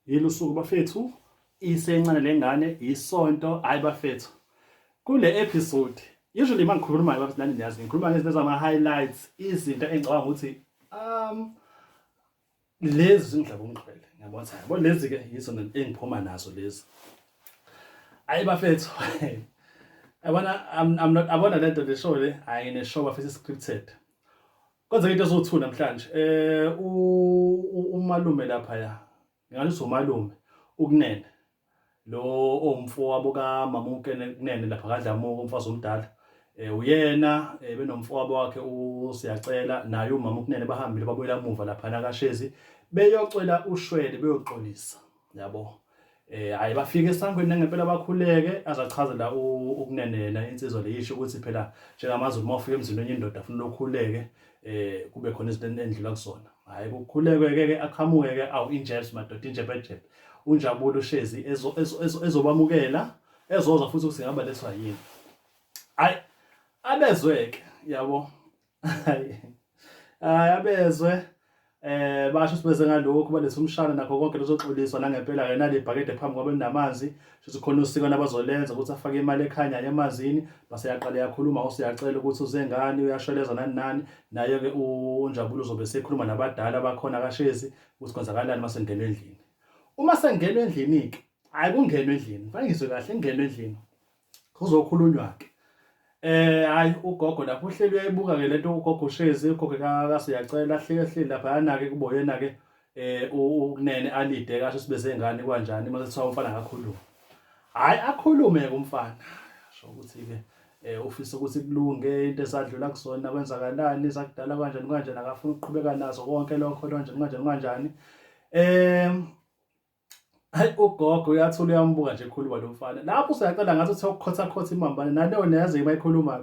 Yilo usuku bafethu isencane lengane isonto hayi bafethu. Kule episode usually uma ngikhuluma bafethu nani niyazi ngikhuluma ngezinto zama highlights izinto engicabanga ukuthi um lezi zindlaba umqhele ngiyabona ukuthi yabo lezi ke yizo engiphuma nazo lezi. Hayi bafethu. Yabona I'm I'm not abona lento le show le ayine show bafethu scripted. Kwenzeka into ezowu-two namhlanje um umalume laphaya ngingalisa umalume ukunene lo owumfowabo kamama ukunene lapha kadlamuka umfazi omdala um uyena um benomfowabo wakhe usiyacela naye umama ukunene bahambile babuyela muva laphana kashezi beyocela ushwele beyoxolisa yabo eh hayi bafike esangweni nangempela bakhuleke azachazela ukunenena insizwa leyisho ukuthi phela njengamazulu uma ufika emzini wenye indoda afuna ukukhuleke eh kube khona izinto endlula kusona hayi kukhuleke ke ke aqhamuke ke awu injebs madoda injebejebe unjabulo ushezi ezobamukela ezozwa futhi ukuthi ngaba leswa yini hayi abezweke yabo hayi abezwe eh basho sibeze ngalokho balesa umshana nakho konke lozoxoliswa nangempela ke nale bhakede phambi kwabe namanzi shuthi khona usiko nabazolenza ukuthi afake imali ekhanya emanzini base yaqale yakhuluma usiyacela ukuthi uzengani uyasholeza nani nani naye ke unjabulo uzobe sekhuluma nabadala bakhona kashezi ukuthi kwenzakalani masengena endlini uma sengena endlini ke hayi kungenwe endlini fanele ngizwe kahle ngingena endlini kuzokhulunywa ke eh hayi ugogo lapho uhleli uyayibuka ke lento ugogo ushezi ugogo kasiyacela hleke hleli lapha yanake kuboyena ke eh ukunene alide kasho sibe zengane kwanjani mase kuthiwa umfana akakhulume hayi akhulume ke umfana sho ukuthi ke eh ufisa ukuthi kulunge into esadlula kusona kwenzakalani sakudala kanjani kanjani akafuna ukuqhubeka nazo konke lokho kanjani kanjani kanjani eh Hayi ugogo uyathula uyambuka nje ekhuluma lo mfana. Lapho usuyacela ngathi uthe ukukhotha khotha imambane naleyo neze ibayikhuluma.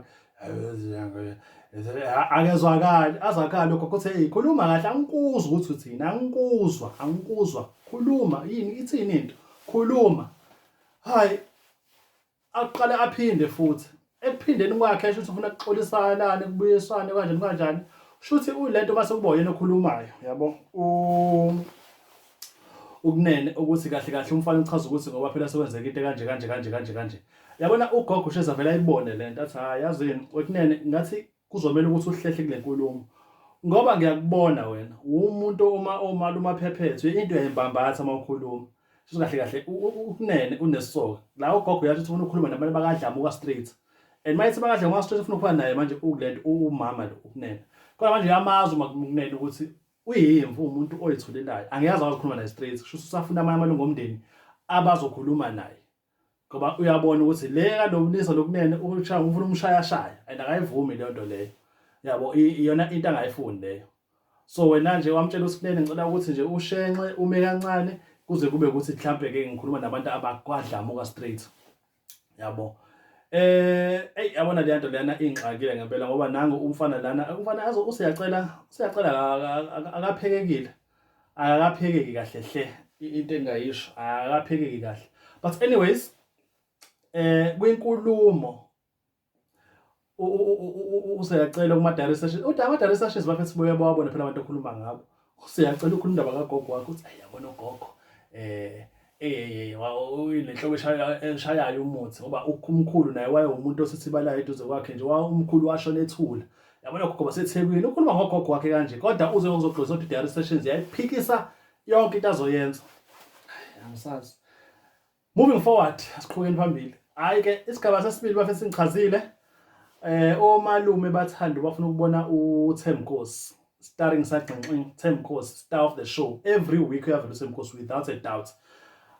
Akezwakali, azwakali lokho kuthe hey khuluma kahle angikuzwa ukuthi uthini, angikuzwa, angikuzwa. Khuluma yini ithini into? Khuluma. Hayi aqale aphinde futhi ekuphindeni kwakhe esho ukuthi ufuna kuxolisanane kubuyiswane kanjani kanjani shuthi ulento mase kuba yena okhulumayo yabo ukunene ukuthi kahle kahle umfana uchaza ukuthi ngoba phela sekwenzeka into kanje kanje kanje kanje kanje yabona ugogo usheza vele ayibone lento athi hayi yazini wekunene ngathi Kuzomela ukuthi uhlehle kule nkulumo ngoba ngiyakubona wena umuntu uma omali umaphephethu into yembambatha uma ukhuluma sho kahle kahle ukunene unesoka la ugogo uyathi ufuna ukukhuluma nabantu bakadlamuka street and mayithi bakadlamuka street ufuna ukuba naye manje ukulento umama lo ukunene kodwa manje yamazi uma kunene ukuthi uyimvu umuntu oyithulelayo angiyazi awazikhuluma naye street sho usafuna amanye amalungu omndeni abazokhuluma naye ngoba uyabona ukuthi le kaNomlisa lokunene ushaya ufuna umshaya shaya and akayivumi leyo nto leyo yabo iyona into angayifuni leyo so wena nje wamtshela uSinene ngicela ukuthi nje ushenxe ume kancane kuze kube ukuthi mhlambe ke ngikhuluma nabantu abakwadlamuka straight yabo eh ey yabona le nto lena ingxakile ngempela ngoba nangu umfana lana umfana azo useyacela useyacela akaphekekile akakaphekeki kahle hle into engayisho akakaphekeki kahle but anyways eh kwinkulumo useyacela kuma direct session uthi ama direct sessions bafethu sibuye bawabone phela abantu okhuluma ngabo useyacela ukhuluma indaba kagogo wakho uthi ayabona ugogo eh Eyeyeye nenhloko eshayayo umuthi ngoba umkhulu naye wayewumuntu osithibalayo eduze kwakhe nje umkhulu washona ethula yabona gogo basethekwini ukhuluma ngogogo wakhe kanje kodwa uze ngizogqoza ukuthi diary sessions yayiphikisa yonke into azoyenza angisazi moving forward asiqhubekeni phambili hayi ke isigaba sesibili bafethu ngichazile eh omalume bathanda bafuna ukubona uThemkosi starring sagxinxing Thembkosi star of the show every week uyavela uThembkosi without a doubt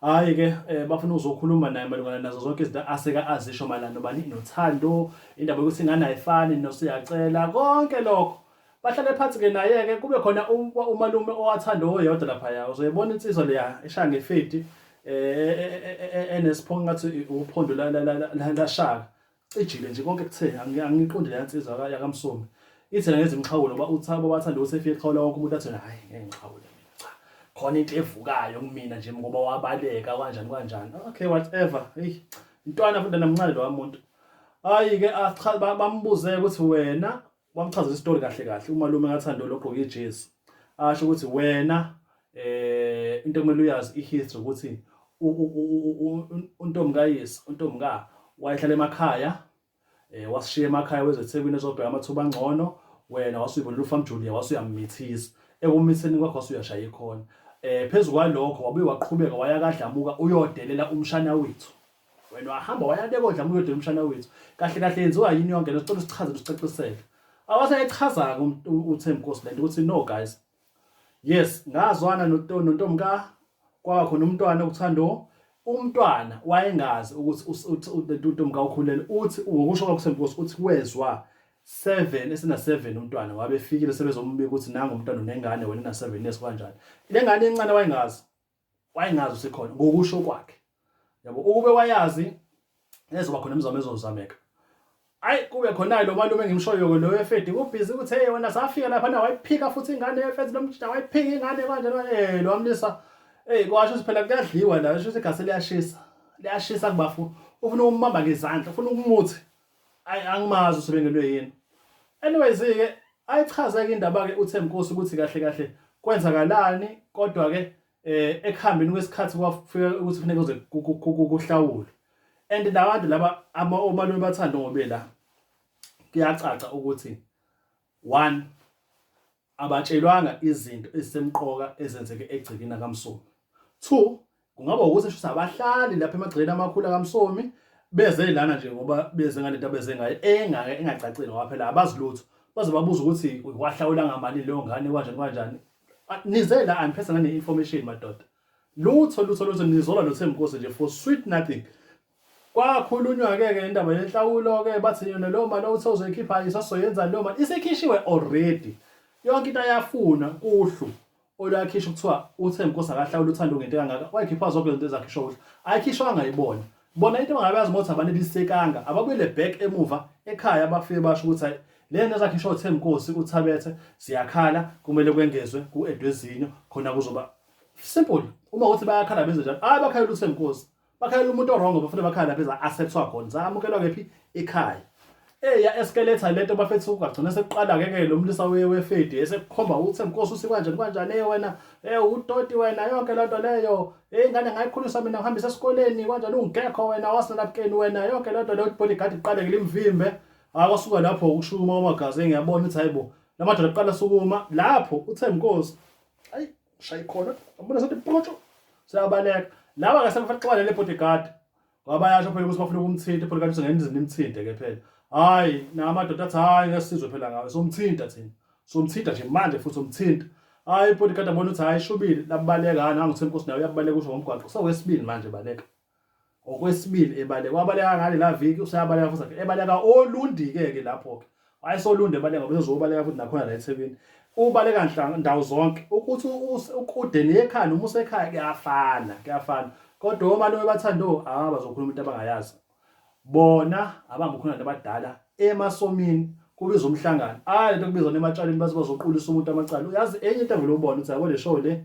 hayi ke eh, bafuna uzokhuluma naye malungana nazo zonke izinto aseka azisho malana bani nothando indaba yokuthi ingane ayifani nosiyacela konke lokho bahlale phansi ke naye ke kube khona um, umalume owathanda oyedwa lapha ya uzoyibona insizwa leya eshaya ngefidi eh, eh, eh enesiphongo ngathi uphondo la la la la shaka cijile nje konke kuthe angiqondi leya nsizwa yakamsomi ithena ngenza imixhawulo ngoba uthabo wathanda ukuthi efike eqhawula wonke umuntu athena hhayi ngeke ngixhawule cha khona into evukayo kumina nje ngoba wabaleka kanjani kanjani okay whatever eyi intwana futhi namncane lowa muntu hhayi-ke bambuze ukuthi wena wamchazela isitori kahle kahle umalume kaThando logqoke ijezi asho ukuthi wena eh into kumele uyazi ihistory ukuthi untombi kayise untombi ka wayehlala emakhaya eh wasishiya emakhaya wezeThekwini ezobheka amathuba angcono wena wasuyibona lufa mjulia wasuyamithisa ekumitheni kwakho wasuyashaya ikhona eh phezulu kwalokho wabuye waqhubeka waya kadlamuka uyodelela umshana wethu wena wahamba waya bekodla muyodela umshana wethu kahle kahle yenziwa yini yonke lento sicela sichaze usicacisele awaseyichazanga uThembi Nkosi lento ukuthi no guys yes ngazwana nontombi ka kwaba khona umntwana okuthando umntwana wayengazi ukuthi untombi ka ukhulele uthi ngokusho kwakuThembi Nkosi uthi wezwa 7 esina 7 umntwana wabefikile sebezombika ukuthi nangu umntwana unengane wena na 7 years kanjani lengane encane wayengazi wayengazi usekhona ngokusho kwakhe yabo ukube wayazi ezoba khona imizamo ezozameka ayi kube khona lo malume engimshoyo lo wefedi kubhizi ukuthi hey wena safika lapha na wayiphika futhi ingane yefedi lomjita wayiphika ingane manje eh lo amlisa hey kwasho siphela kuyadliwa la sho ukuthi igase liyashisa liyashisa kubafu ufuna ukumama ngezandla ufuna ukumuthi Ay angimazi usebendelwe yini. Anyways ke ayichaza ke indaba ke uThembkosi ukuthi kahle kahle kwenzakalani kodwa ke eh ekuhambeni kwesikhathi kwafika ukuthi kufuneka uze kuhlawule and nabantu laba ama omalume bathanda ngobe la kuyacaca ukuthi one Abatshelwanga izinto ezisemqoka ezenzeke egcekeni lakaMsomi. Two, kungaba ukuthi shuthi abahlali lapha emagcekeni amakhulu akaMsomi beze lana nje ngoba beze ngale nto abeze ngayo engake engacacile ngoba phela abazi lutho. Baze babuze ukuthi wahlawula ngamali leyo ngane kanjani kanjani. Ah, Nize la aniphethe ngane-information madoda. Lutho lutho lutho nizola noThembinkosi nje for sweet nothing. Kwakhulunywa-ke ke indaba yenhlawulo-ke bathi yona leyo mali othe uzoyikhipha isasoyenza leyo mali isikhishiwe already yonke into ayafuna kuhlu olwakhisha kuthiwa uthe nkosi akahlawula uthando ngento engaka wayikhipha zonke izinto ezakhishwa kuhlu ayikhishwanga ibona bona into bangabe yazi ukuthi abanelisekanga ababuyele back emuva ekhaya bafike basho ukuthi hayi le nto ezakhishwa uthe nkosi uthabethe siyakhala kumele kwengezwe ku-edwezinyo khona kuzoba simple uma ukuthi bayakhala benze njalo hayi bakhalela uthe nkosi bakhalela umuntu orongo bafuna bakhala lapha eza assets wakho ngisamukelwa kephi ekhaya eya eskeletha lento bafethu ugagcina sekuqala ke ke lo mlisa wefedi esekukhomba ukuthi mkosi usikwanje kanjani eh wena eh utoti wena yonke lento leyo eh ingane ngayikhulisa mina ngihambisa esikoleni kanjani ungekho wena wasenabukeni wena yonke lento leyo bodyguard iqale ke limvimbe akwasuka ah, lapho ukushuma umagazi ngiyabona ukuthi hayibo lamadoda aqala sukuma lapho uthe mkosi ayi ushaye khona abona sathi potsho siyabaleka laba ngase kufanele xabane le bodyguard ngoba bayasho phela ukuthi bafuna ukumthinta bodyguard usengena izini imthinte ke phela hayi namadoda athi hayi ngesizwe phela ngawe somthinta thina somthinta nje manje futhi somthinta hayi bodyguard abona ukuthi hayi shubile labaleka nangu senkosi nayo uyabaleka usho ngomgwaqo sewesibili manje baleka Okwesibili ebaleka wabaleka ngale la viki usayabaleka futhi akhe ebaleka olundike ke lapho ke wayesolunde ebaleka ngoba uzobaleka futhi nakhona la eThekwini ubaleka nhla ndawo zonke ukuthi ukude nekhaya noma usekhaya kuyafana kuyafana kodwa uma lo bathanda oh ah bazokhuluma into abangayazi bona abangukhona abantu abadala emasomini kubiza umhlangano ah lento kubiza nematshaleni bazoqulisa umuntu amacala uyazi enye into engilobona ukuthi yabo le show le